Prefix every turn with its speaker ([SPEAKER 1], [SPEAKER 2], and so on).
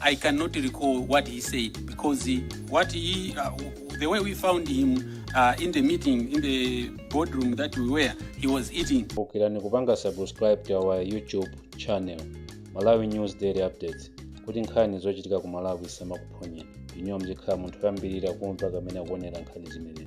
[SPEAKER 1] I cannot recall what he said because he, what he, uh, the way we found him uh, in the meeting, in the boardroom that we were, he was eating. kumbukirani kupanga
[SPEAKER 2] subscribe to our youtube channel malawi news daily updates kuti nkhani zochitika ku malawi zisamakuphonyeni inuyo muzikhala munthu woyambirira kumva kapena kuonera nkhani zimenezi